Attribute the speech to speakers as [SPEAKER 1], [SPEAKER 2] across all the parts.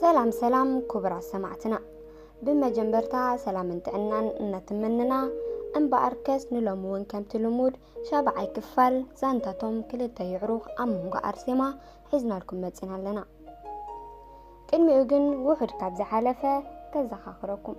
[SPEAKER 1] ሰላም ሰላም ክቡራት ሰማዕትና ብመጀመርታ ሰላምን ጥዕናን እናትምንና እምበኣር ከስ ንሎሚ እውን ከምቲ ልሙድ ሻብዓይ ክፋል ዛንታቶም ክልተ ይዕሩኽ ኣብ መንጎ ኣርሴማ ሒዝናልኩም መፂና ኣለና ቅድሚኡ ግን ውሑድ ካብ ዝሓለፈ ከዘኻኽረኩም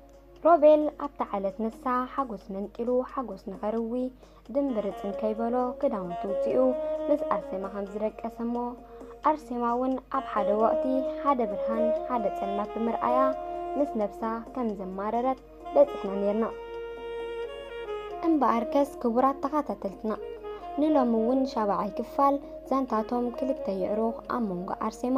[SPEAKER 1] ሮቤል ኣብታ ዓለት ንሳ ሓጎስ መንጢሉ ሓጎስ ንኸርዊ ድምብርፅን ከይበሎ ክዳውንቱ ውፅኡ ምስ ኣርሴማ ከም ዝደቀሰ እሞ ኣርሴማ እውን ኣብ ሓደ ወቕቲ ሓደ ብርሃን ሓደ ፀልማት ብምርኣያ ምስ ነብሳ ከም ዘማረረት በፂሕና ነርና እምበኣር ከስ ክቡራት ተኸታተልትና ንሎሚ እውን ሻባዓይ ክፋል ዛንታቶም ክልተ ይዕሩኽ ኣብ መንጎ ኣርሴማ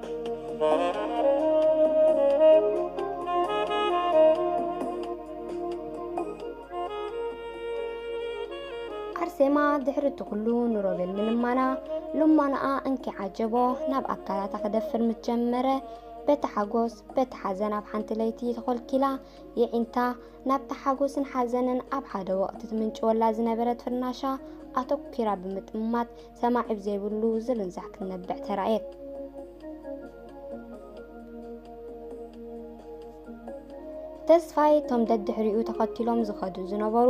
[SPEAKER 1] ኣርሴማ ድሕሪ እቲ ኩሉ ንሮቤል ምልማና ልማናኣ እንኪ ዓጀቦ ናብ ኣካላታ ክደፍር ምስ ጀመረ በቲ ሓጎስ በቲ ሓዘን ኣብ ሓንቲ ለይቲ ተኾልኪላ የዒንታ ናብቲ ሓጎስን ሓዘንን ኣብ ሓደ ወቕቲ ትምንጭወላ ዝነበረት ፍርናሻ ኣተኲራ ብምጥማት ሰማዒ ብዘይብሉ ዝርንዛሕ ክትነብዕ ተራእየት። ተስፋይ እቶም ደድሕሪኡ ተኸቲሎም ዝኸዱ ዝነበሩ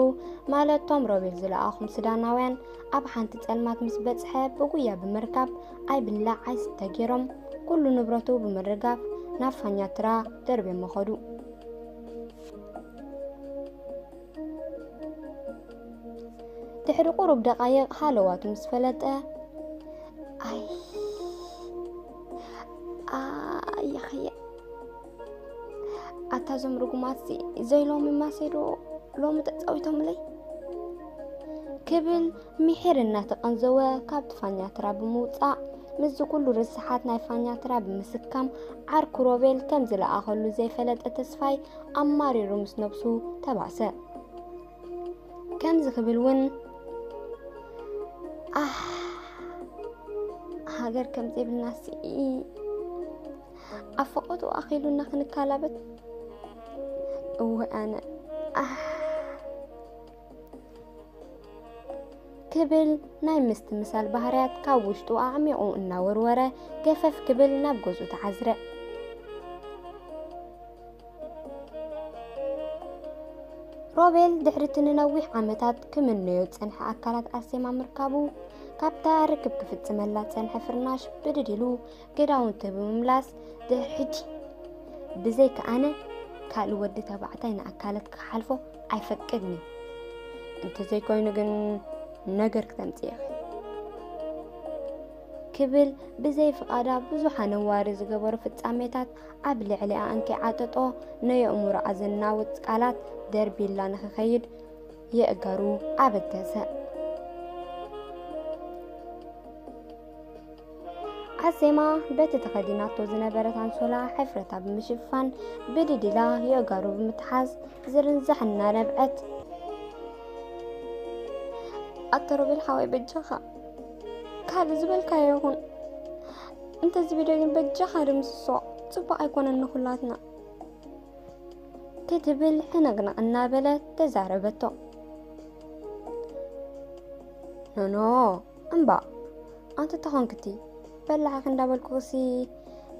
[SPEAKER 1] ማለት እቶም ሮቤል ዝለኣኹም ሱዳናውያን ኣብ ሓንቲ ጸልማት ምስ በጽሐ ብጉያ ብምርካብ ኣይብላዕ ኣይስተ ገይሮም ኩሉ ንብረቱ ብምርጋፍ ናብ ፋኛትራ ደርብዮም መኸዱ። ድሕሪ ቁሩብ ደቓይቕ ሃለዋቱ ምስ ፈለጠ ኣይ ኣያኸየ ኣታ ዞም ርጉማት ዘይሎሚ ማሴዶ ሎሚ ተፃዊቶምለይ ክብል ሚሒር እናተቐንዘወ ካብቲ ፋኛትራ ብምውፃእ ምስዚ ኩሉ ርስሓት ናይ ፋኛትራ ብምስካም ዓርኩ ሮቤል ከም ዝለኣኸሉ ዘይፈለጠ ተስፋይ ኣማሪሩ ምስ ነብሱ ተባእሰ። ከምዚ ክብል እውን ሃገር ከም ዘይብልና ስኢ ኣብ ፈቐጡ ኣኺሉና ክንካላበት እወ ኣነ ክብል ናይ ምስትምሳል ባህርያት ካብ ውሽጡ ኣዕሚቑ እናወርወረ ገፈፍ ክብል ናብ ገዝኡ ተዓዝረ። ሮቤል ድሕሪ እቲ ንነዊሕ ዓመታት ክምነዮ ዝጸንሐ ኣካላት ኣርሴማ ምርካቡ ካብታ ርክብ ክፍጽመላ ዝጸንሐ ፍርናሽ ብድድ ኢሉ ክዳውንቲ ብምምላስ ድሕሪ ሕጂ ብዘይካ ኣነ ካልእ ወዲ ተባዕታይ ንኣካለት ክሓልፎ ኣይፈቅድን እዩ እንተዘይኮይኑ ግን ነገር ክተምፅእ ኢኺ ክብል ብዘይ ፍቓዳ ብዙሕ ኣነዋሪ ዝገበሩ ፍጻሜታት ኣብ ልዕሊኣ እንከይዓጠጦ ነየእምሮኣ ዘናውፅ ቃላት ደርቢላ ንክኸይድ የእገሩ ኣበገሰ ኣርሴማ በቲ ተኸዲናቶ ዝነበረት ኣንሶላ ሕፍረታ ብምሽፋን ብድድ ኢላ የእጋሩ ብምትሓዝ ዝርንዛሕ እናነብዐት ኣቶ ሮቤል ሓወይ በጃኻ ካልእ ዝበልካዮ ይኹን እንተዚ ቪድዮ ግን በጃኻ ድምስሶ ፅቡቅ ኣይኮነን ንኹላትና ክትብል ሕንቕንቕ እናበለት ተዛረበቶ ኖኖ እምባእ ኣንቲ ተኾንክቲ በላዕኺ እንዳበልኩኽሲ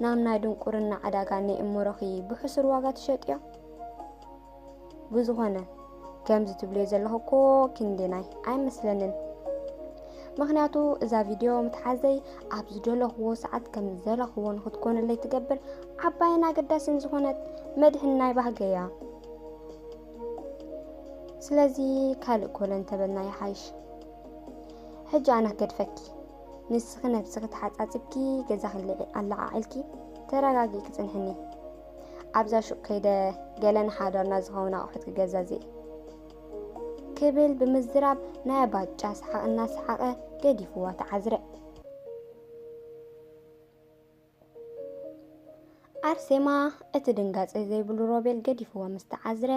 [SPEAKER 1] ናብ ናይ ድንቁርና ዕዳጋ ንእምሮኺ ብሕሱር ዋጋ ትሸጥዮ ብዝኾነ ከምዚ ትብልዮ ዘለኹ እኮ ክንዲ ናይ ኣይመስለንን ምክንያቱ እዛ ቪድዮ ምትሓዘይ ኣብ ዝደለኽዎ ሰዓት ከም ዘለኽዎ ንክትኮነለይ ትገብር ዓባይን ኣገዳስን ዝኾነት መድሕን ናይ ባህገ እያ ስለዚ ካልእ ኮለን ተበልና ይሓይሽ ሕጂ ኣነ ክገድፈኪ ንስኺ ነብስኺ ተሓጻጺብኪ ገዛኺ ኣለዓዒልኪ ተረጋጊ ክጽንሕኒ ኣብዛ ሹቅ ከይደ ገለ ንሓዳርና ዝኸውን ኣቑሑት ክገዛዝእ ክብል ብምዝራብ ናይ ኣባጫ ሰሓቕ እናሰሓቐ ገዲፍዋ ተዓዝረ ኣርሴማ እቲ ድንጋጸ ዘይብሉ ሮቤል ገዲፍዎ ምስ ተዓዝረ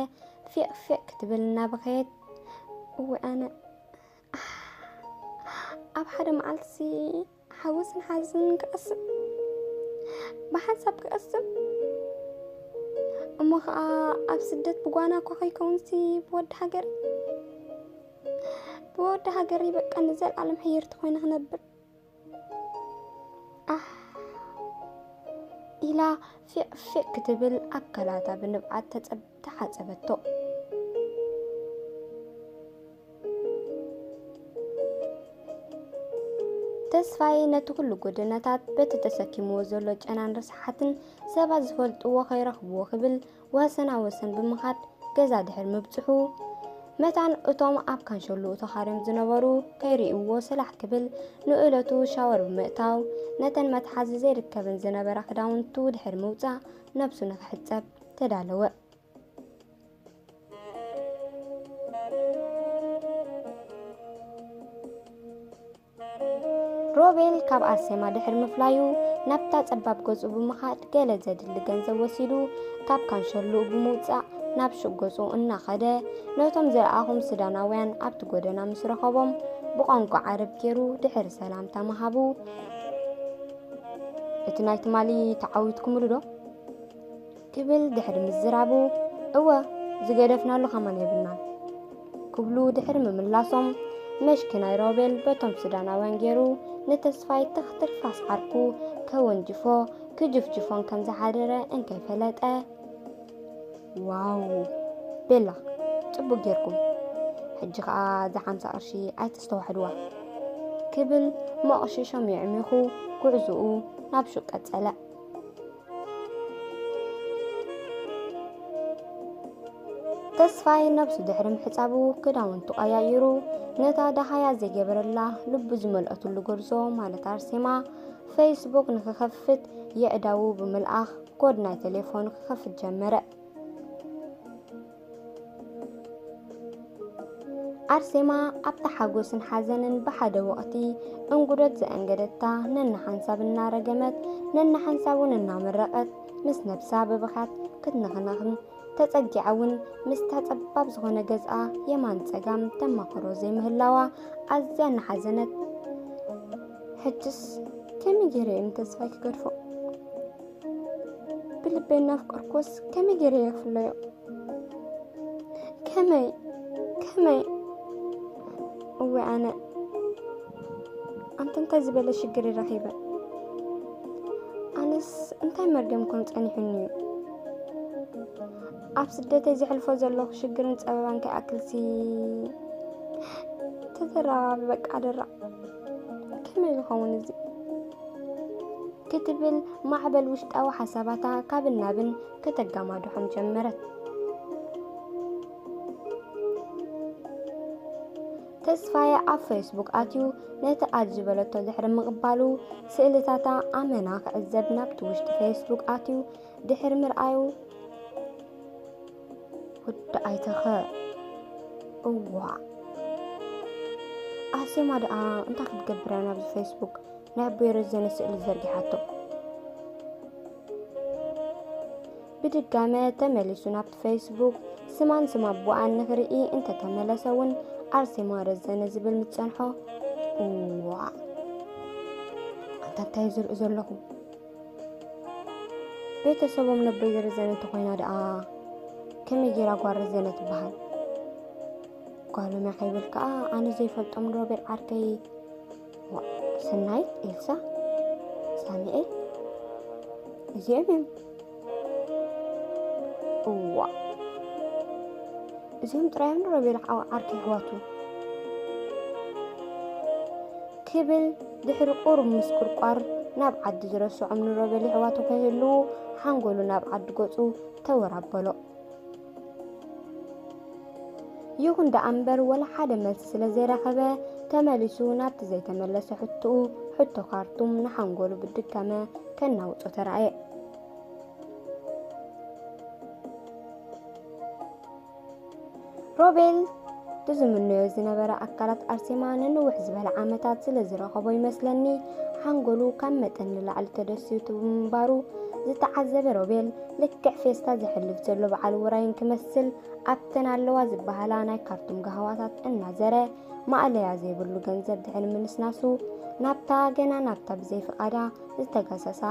[SPEAKER 1] ፊቕ ፊቕ ክትብል እናበኸየት እወ ኣነ ኣብ ሓደ መዓልቲ ሓውስን ሓዝን ክቐስም ብሓንሳብ ክቐስም እሞ ከዓ ኣብ ስደት ብጓና እኳ ከይከውንሲ ብወዲ ሃገር ብወዲ ሃገር ይበቃ ንዘለኣለም ሕይርቲ ኮይነ ክነብር ኢላ ፊዕ ፊዕ ክትብል ኣካላታ ብንብዓት ተሓጸበቶ። ተስፋዬ ነቲ ኩሉ ጎደናታት በቲ ተሰኪምዎ ዘሎ ጨናን ርስሓትን ሰባት ዝፈልጥዎ ከይረኽብዎ ክብል ወሰና ወሰን ብምኻድ ገዛ ድሕር ምብጽሑ መታን እቶም ኣብ ካንሸሉ ተኻርዮም ዝነበሩ ከይርእይዎ ሰላሕ ክብል ንእለቱ ሻወር ብምእታው ነተን መትሓዚ ዘይርከበን ዝነበራ ክዳውንቱ ድሕር ምውጻእ ነብሱ ንክሕጸብ ተዳለወ። ሮቤል ካብ ኣርሴማ ድሕሪ ምፍላዩ ናብታ ጸባብ ገጹ ብምኻድ ገለ ዘድሊ ገንዘብ ወሲዱ ካብ ካንሸሉኡ ብምውጻእ ናብ ሹቅ ገጹ እናኸደ ነቶም ዝረኣኹም ሱዳናውያን ኣብቲ ጎደና ምስ ረኸቦም ብቋንቋ ዓረብ ገይሩ ድሕሪ ሰላምታ ምሃቡ እቲ ናይ ትማሊ ተዓዊትኩምሉ ዶ ክብል ድሕሪ ምዝራቡ እወ ዝገደፍናሉ ከማን የብልናን ክብሉ ድሕሪ ምምላሶም መሽኪ ናይ ሮቤል በቶም ሱዳናውያን ገይሩ ንተስፋይ ተኽትርፋስ ዓርኩ ከወንጅፎ ክጅፍጅፎን ከም ዝሓደረ እንከይፈለጠ ዋው ቤላ ጽቡቅ ጌርኩም ሕጂ ከኣ እዛ ሓምሳ ቅርሺ ኣይተስተዋሕድዋ ክብል መቕሽሾም የዕሚኹ ጉዕዝኡ ናብ ሹቅ ቀጸለ። ተስፋይ ነብሱ ድሕሪ ምሕጻቡ ክዳውንቱ ቀያይሩ ነታ ደሃያ ዘይገበረላ ልቡ ዝመልአትሉ ጎርዞ ማለት ኣርሴማ ፌስቡክ ንክኸፍት የዕዳዉ ብምልኣኽ ኮድ ናይ ቴሌፎን ክኸፍት ጀመረ። ኣርሴማ ኣብታ ሓጎስን ሓዘንን ብሓደ ወቕቲ እንጉዶት ዘእንገደታ ነንሓንሳብ እናረገመት ነንሓንሳብ እውን እናመረቐት ምስ ነብሳ ብብኻት ክትንኽነኽን ተጸጊዓ እውን ምስታ ጸባብ ዝኾነ ገዝኣ የማን ጸጋም ተማኽሮ ዘይምህላዋ ኣዝያ እናሓዘነት ሕጅስ ከመይ ገይረ እዮም ተስፋይ ክገድፎ ብልበይ እናፍቀርኩስ ከመይ ገይረ እየ ክፍለዮ ከመይ ከመይ እወ ኣነ ኣንተ እንታይ ዝበለ ሽግር ረኺበ ኣነስ እንታይ መርገም ኮን ጸኒሑኒ እዩ ኣብ ስደተይ ዘሕልፎ ዘለኹ ሽግርን ጸበባን ከይኣክልሲ ተተራባቢ በቃ ደራዕ ከመይ ዝኸውን እዚ ክትብል ማዕበል ውሽጣዊ ሓሳባታ ካብን ናብን ከተጋማድሖም ጀመረት። ተስፋየ ኣብ ፌስቡክ ኣትዩ ነቲ ኣድ ዝበለቶ ድሕሪ ምቕባሉ ስእልታታ ኣመና ክዕዘብ ናብቲ ውሽጢ ፌስቡክ ኣትዩ ድሕሪ ምርኣዩ ወዲ ኣይተኸ እዋ ኣሴማ ደኣ እንታይ ክትገብር እያ ናብዚ ፌስቡክ ናይ ኣቦይ ረዘነ ስእሊ ዘርጊሓቶ ብድጋመ ተመሊሱ ናብቲ ፌስቡክ ስማን ስም ኣቦኣን ንኽርኢ እንተተመለሰ እውን ኣርሴማ ረዘነ ዝብል ምፀንሖ እዋ ኣንታ እንታይ ዝርኢ ዘለኹ ቤተሰቦም ነበይ ዝርዘነ እንተኾይና ደኣ ከመይ ጌራ ጓል ርዘነ ትበሃል ጓሎም እያ ከይብል ከዓ ኣነ ዘይፈልጦም ሮቤል ዓርከይ ስናይት ኤልሳ ሳሙኤል እዚኦም እዮም እዋ እዚኦም ጥራዮም ሮቤል ዓርከይ ኣሕዋቱ ክብል ድሕሪ ቁሩብ ምስቁርቋር ናብ ዓዲ ዝረስዖም ንሮ በሊዕዋቶ ከይህልዉ ሓንጎሉ ናብ ዓዲ ገጹ ተወር ኣበሎ። ይኹን ደኣ እምበር ወላ ሓደ መልሲ ስለ ዘይረኸበ ተመሊሱ ናብቲ ዘይተመለሰ ሕቶኡ ሕቶ ካርቱም ንሓንጎሉ ብድጋመ ከናውጾ ተራእየ። ሮቤል ዝምነዮ ዝነበረ ኣካላት ኣርሴማ ንንውሕ ዝበለ ዓመታት ስለ ዝረኸቦ ይመስለኒ ሓንጎሉ ካብ መጠን ንላዕሊ ተደሲቱ ምንባሩ ዝተዓዘበ ሮቤል ልክዕ ፌስታ ዘሕልፍ ዘሎ በዓል ውራይን ክመስል ኣብተን ኣለዋ ዝበሃላ ናይ ካርቱም ጋህዋታት እናዘረ ማእለያ ዘይብሉ ገንዘብ ድሕሪ ምንስናሱ ናብታ ገና ናብታ ብዘይ ፍቓዳ ዝተገሰሳ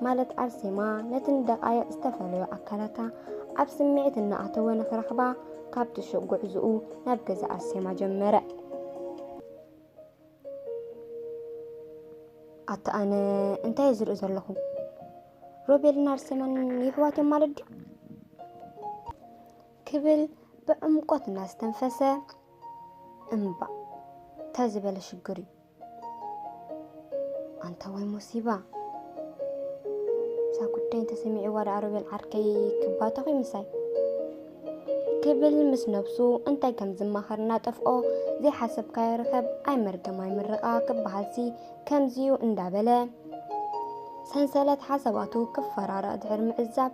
[SPEAKER 1] ማለት ኣርሴማ ነትን ደቃይቕ ዝተፈለዩ ኣካላታ ኣብ ስምዒት እናኣተወ ንክረኽባ ካብ ትሹቕ ጉዕዝኡ ናብ ገዛ ኣርሴማ ጀመረ። ኣታ ኣነ እንታይ እየ ዝርኢ ዘለኹ? ሮቤልን ኣርሴማን ይሕዋት እዮም ማለት ድዩ? ክብል ብዕምቆት እናስተንፈሰ እምባ እንታይ ዝበለ ሽግር እዩ ኣንታ ወይ ሙሲባ እዛ ጉዳይ እንተሰሚዕዋ ደኣ ሮቤል ዓርከይ ክባተኹ ምሳይ ክብል ምስ ነብሱ እንታይ ከም ዝማኸር እናጠፍኦ ዘይሓሰብካዮ ርኸብ ኣይመርገም ኣይምርቓ ክበሃልሲ ከምዚዩ እንዳበለ ሰንሰለት ሓሳባቱ ክፈራረቕ ድሕሪ ምዕዛብ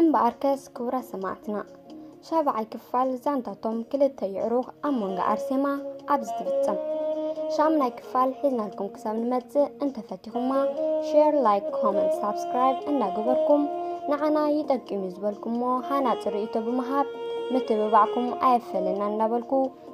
[SPEAKER 1] እምበኣርከስ ክቡራት ሰማዕትና ሻብዓይ ክፋል ዛንታቶም ክልተ ይዕሩኽ ኣብ መንጎ ኣርሴማ ኣብዚ ትፍጸም ሻምናይ ክፋል ሒዝናልኩም ክሳብ ንመጽእ እንተፈቲኹማ ሼር ላይክ ኮመንት ሳብስክራይብ እንዳገበርኩም ንዓና ይጠቅም እዩ ዝበልኩሞ ሃናፂ ርእይቶ ብምሃብ ምትብባዕኩም ኣየፈለና እንዳበልኩ